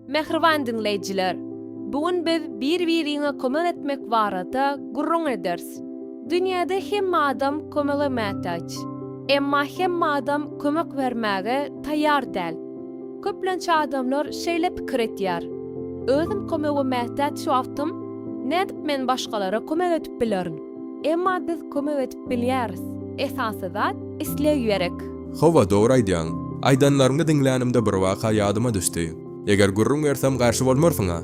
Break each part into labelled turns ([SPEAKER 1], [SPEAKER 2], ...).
[SPEAKER 1] Mähriban diňleýjiler! Bu gün biz bir-biriňe kömek etmek barada gürrüň ederis. Dünýäde hemme adam kömege mätaç. Emma hemme adam kömek bermäge taýýar däl. Köplenç adamlar şeýle pikir etýär, Özüm kömege mätäç wagtym, nädip men başgalara kömek edip bilerin? Emma biz kömek edip. Bilýäris. Esasy zat, isleg ýerek. Hawa, dogry
[SPEAKER 2] aýdýaň. Aýdanlaryňy diňlänimde bir waka ýadyma düşdi. Eger gürrüň bersem garşy bolmarsyň-a?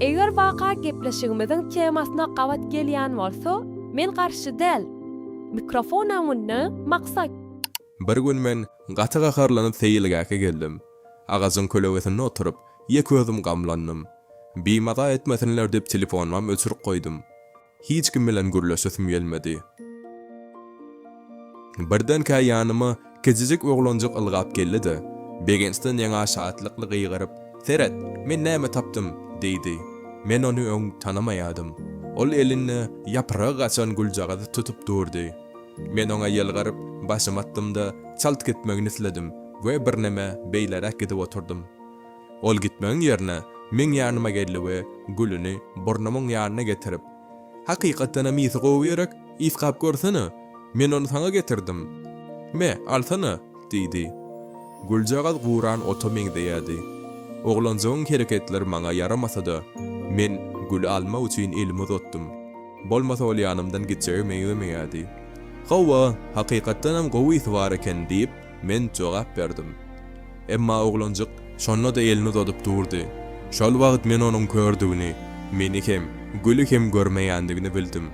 [SPEAKER 2] Eger waka
[SPEAKER 1] gepleşigimiziň temasyna gabat gelýän bolsa, men garşy däl. Mikrofonam onda, maksat. Bir gün
[SPEAKER 2] men gaty gaharlanyp seýilgähe geldim. Agajyň kölegesinde oturyp, ýeke özüm gamlandym. Bimaza etmesinler diýip telefonymam öçürip goýdum. Hiç kim bilen gürleşesim gelmedi. Birdenkä ýanyma kiçijik oglanjyk ylgap geldi-de, begençden ýaňa şatlykly gygyryp, Seret, men näme tapdym! diýdi. Men ony öň tanamaýardym. Ol elinde ýapragy gaçan güljagazy tutup durdy. Men oňa ýylgyryp, başymy atdym-da, çalt gitmegini isledim we birneme beýleräk gidip oturdym. Ol gitmegiň ýerine meň ýanyma geldi we gülüni burnumyň ýanyna getirip, Hakykatdanam ysy gowy ýörek, ysgap görsene, men ony saňa getirdim. Me, alsana! diýdi. Güljagaz guran ota meňzeýärdi. Oglanjygyň hereketleri maňa ýaramasa-da, men güli almak üçin elimi uzatdym. Bolmasa ol ýanymdan gitjege meňzemeýärdi. Hawa, hakykatdanam gowy ysy bar eken, diýip, Men jogap berdim. Emma oglanjyk şonda-da elini uzadyp durdy. Şol wagt men onuň kördügini, meni hem, Güli hem görmeýändigini bildim.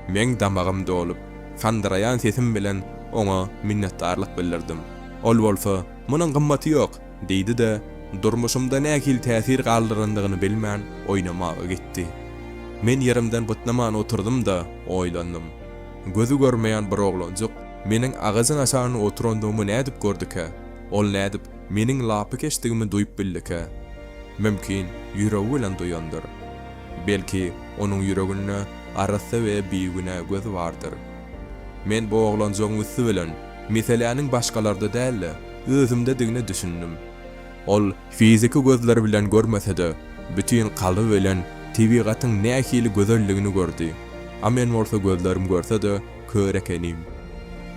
[SPEAKER 2] Meň damagym dolup, sandyraýan sesim bilen oňa minnetdarlyk bildirdim. Ol bolsa, Munuň gymmaty ýok! diýdi-de, durmuşymda nähili täsir galdyrandygyny bilmän, oýnamaga gitdi. Men ýerimden bytnaman oturdym-da, oýlandym. Gözi görmeýän bir oglanjyk. Meniň agajyň aşagynda oturandygymy nädip gördükä? Ol nädip meniň lapykeçdigimi duýup bildikä? Mümkin, ýüregi bilen duýandyr. Belki, onuň ýüreginde arassa we bigünä göz bardyr. Men bu oglanjygyň üsti bilen meseläniň başgalarda däl-de, özümdedigine düşündim. Ol fiziki gözleri bilen görmese-de, bütin kalby bilen tebigatyň nähili gözelligini gördi. A men bolsa gözlerim görse-de, Kör ekenim.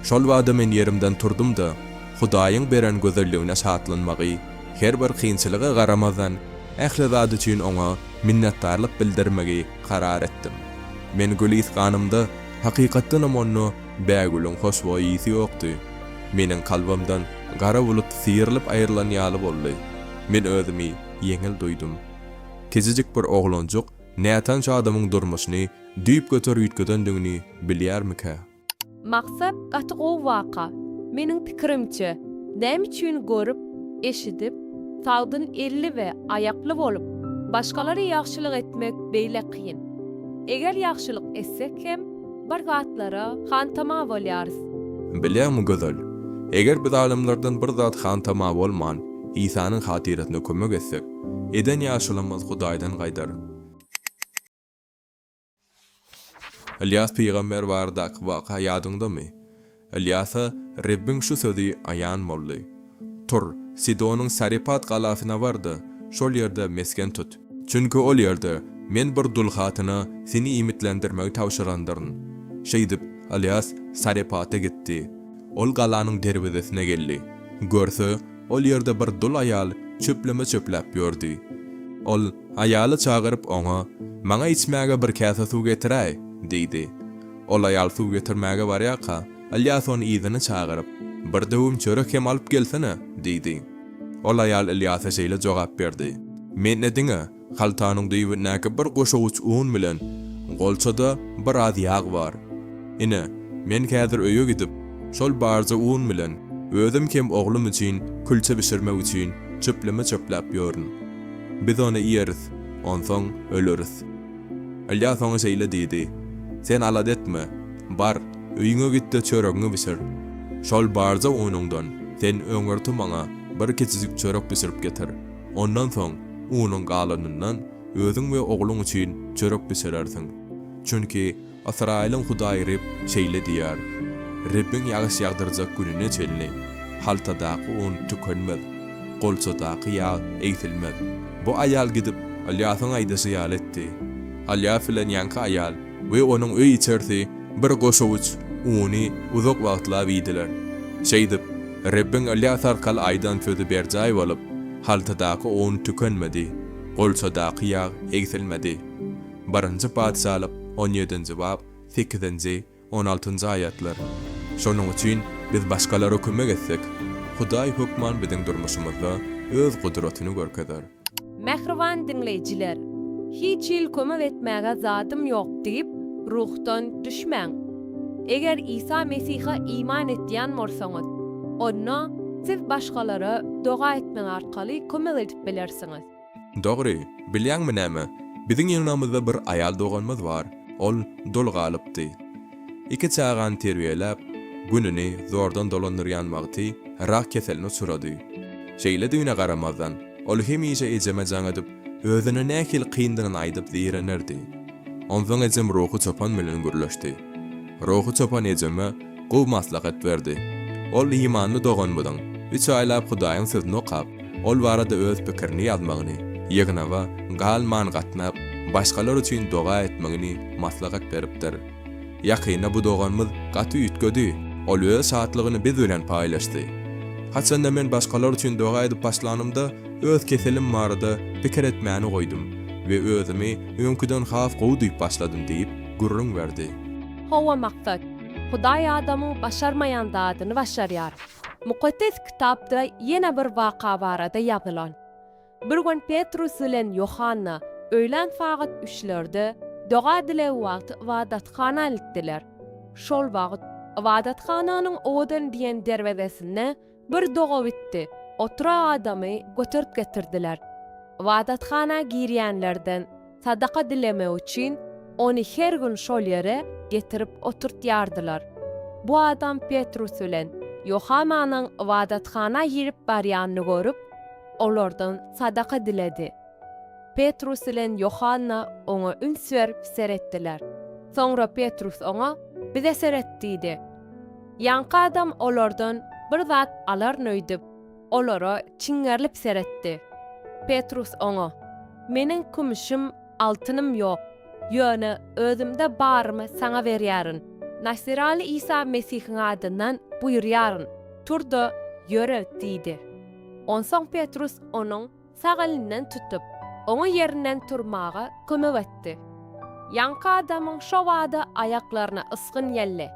[SPEAKER 2] Şol bada men ýerimden turdum-da, Hudaýyň beren gözelligine şatlanmagy, her bir kynçylyga garamazdan, ähli zat üçin Oňa minnetdarlyk bildirmegi karar etdim. Men gülisganymda, hakykatdanam onda bägülüň hoşboý ysy ýokdy. Meniň kalbymdan gara bulut syýrylyp aýrylan ýaly boldy. Men özümi ýeňil duýdum. Kiçijik bir oglanjyk Nätanş adamyň durmuşyny düýp göter üýtgedendigini bilýärmikä? Maksat
[SPEAKER 1] gaty gowy waka. Meniň pikirimçe, näme üçin görüp, eşidip, sagdyn elli we aýakly bolup, başgalara ýagşylyk etmek beýle kyn? Eger ýagşylyk etsek hem, bir zatlara hantama bolýarys. Bilýäňmi,
[SPEAKER 2] Gözel, eger biz adamlardan bir zat hantama bolman, Isanyň hatyrasyna kömek etsek, Eden ýagşylygymyz Hudaýdan gaýdar. Ylýas pygamber baradaky waka ýadyňdamy? Ylýasa Rebbiň şu sözi aýan boldy, Tur, Sidonyň Sarepat galasyna bar-da, şol ýerde mesgen tut. Çünki ol ýerde Men bir dul hatyna seni iýmitlendirmegi tabşyrandyryn. Şeýdip, Ylýas Sarepata gitdi. Ol galanyň derwezesine geldi. Görse, Ol ýerde bir dul aýal çöpleme çöpläp ýördi. Ol, aýaly çagyryp, oňa, Maňa içmäge bir käse suw getiräý! diýdi. Ol aýal suw getirmäge barýarka, Ylýas ony yzyna çagyryp, Bir döwüm çörek hem alyp gelsene! diýdi. Ol aýal Ylýasa şeýle jogap berdi, Mende diňe Haltanyň düýbündäki bir goşawuç un bilen golçada biraz ýag bar. Ine, men häzir öýe gidip, şol barja un bilen özüm hem oglum üçin külçe bişirmek üçin çöpleme çöpläp ýörün. Biz ony iýeris, onsoň öleris. Ylýas oňa şeýle diýdi, Sen alada etme, bar, öýüňe git-de çöregiňi bişir. Şol barja unuňdan sen öňürti maňa bir kiçijik çörek bişirip getir. Ondan soň unuň galanyndan özüň we ogluň üçin çörek bişirersiň. Çünki Ysraýylyň Hudaýy Reb şeýle diýýär, Rebbiň ýagyş ýagdyrjak gününe çenli, haltadaky un tükenmez, golçadaky ýag egsilmez. Bu aýal gidip, Ylýasyň aýdyşy ýaly etdi. Ylýas bilen ýaňky aýal we onuň öý-içerisi bir goşawuç uny uzak wagtlap iýdiler. Şeýdip, Rebbiň Ylýas arkaly aýdan sözi berjaý bolup, haltadaky un tükenmedi, golçadaky ýag egsilmedi. Birinji Patyşalyk on ýedinji bap sekizinji, on altynjy aýatlar. Şonuň üçin biz başgalara kömek etsek, Hudaý hökman biziň durmuşymyzda Öz gudratyny görkezer. Mähriban
[SPEAKER 1] diňleýjiler! Hiç hili kömek etmäge zadym ýok diýip, ruhdan düşmäň. Eger Isa Mesihe iman etýän bolsaňyz, onda siz başgalara doga etmek arkaly kömek edip bilersiňiz. Dogry,
[SPEAKER 2] bilýäňmi näme? Biziň ýygnagymyzda bir aýal doganymyz bar. Ol doly galypdy. Iki çagany terbiýeläp, gününi zordan dolandyrýan wagty rak keseline uçrady. Şeýledigine garamazdan, ol hemişe ejeme jaň edip, özüne nähili kyndygyny aýdyp zeýrenerdi. Onsoň ejem ruhy çopan bilen gürleşdi. Ruhy çopan ejeme gowy maslahat berdi. Ol imanly doganymyzyň üç aýlap Hudaýyň sözüni okap, Ol barada öz pikirini ýazmagyny, ýygnaga galman gatnap, başgalar üçin doga etmegini maslahat beripdir. Ýakynda bu doganymyz gaty üýtgedi. Ol öz şatlygyny biz bilen paýlaşdy. Haçanda men başgalar üçin doga edip başlanymda, öz keselim barada pikir etmäni goýdum we özümi öňküden has gowy duýup başladym diýip, gürrüň berdi. Hawa, maksat.
[SPEAKER 1] Hudaý adamyň başarmaýan zadyny başarýar. Mukaddes Kitapda ýene bir waka barada ýazylan. Bir gün Petrus bilen Ýohanna öýlän sagat üçlerde doga-dileg wagty ybadathana gitdiler. Şol wagt ybadathananyň owadan diýen derwezesinde bir dogabitdi oturan adamy göterip getirdiler. Ybadathana girýänlerden. sadaka dilemek üçin, ony her gün şol ýere getirip oturtýardylar. Bu adam Petrus bilen Ýohananyň ybadathana girip barýanyny görüp, olardan sadaka diledi. Petrus bilen Ýohanna oňa üns berip seretdiler. Soňra Petrus oňa, Bize seret diýdi. Ýaňky adam olardan bir zat alaryn öýdüp, olara çiňňerlip seretdi. Petrus oňa, Meniň kümüşim, altynym ýok, ýöne özümde barymy saňa berýärin, Nasiraly Isa Mesihiň adyndan buýurýaryn, tur-da, ýöre! diýdi. Onsoň Petrus onuň. sag elinden tutup, oňa ýerinden turmaga kömek etdi. Ýaňky adamyň şo bada aýaklaryna ysgyn geldi.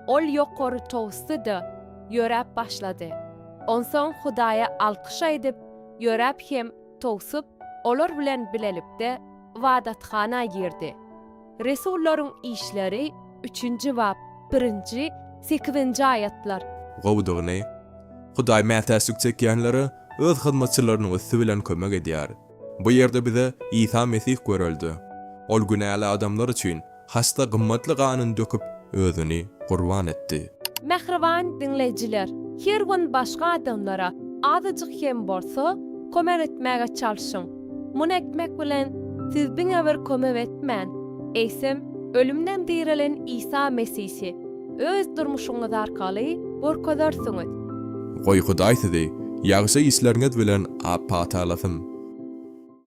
[SPEAKER 1] Ol ýokary towusdy-da, ýöräp başlady. Onsoň Hudaýa alkyş aýdyp, ýöräp hem towsup, olar bilen bilelikde ybadathana girdi. Resullaryň işleri üçünji bap birinji, sekizinji aýatlar. Gowudygyny,
[SPEAKER 2] Hudaý mätäçlik çekýänlere Öz hyzmatçylarynyň üsti bilen kömek edýär. Bu ýerde bize Isa Mesih görelde. Ol günäli adamlar üçin hasda gymmatly ganyny döküp, Özüni gurban etdi. Mähriban
[SPEAKER 1] diňleýjiler, her gün başga adamlara azajyk hem bolsa kömek etmäge çalşyň. Muny etmek bilen, siz diňe bir kömek etmän, eýsem, ölümden direlen Isa Mesihi, Öz durmuşyňyz arkaly gorkezersiňiz.
[SPEAKER 2] Goý Hudaý sizi
[SPEAKER 1] ýagşy
[SPEAKER 2] işleriňiz bilen apatallasyn.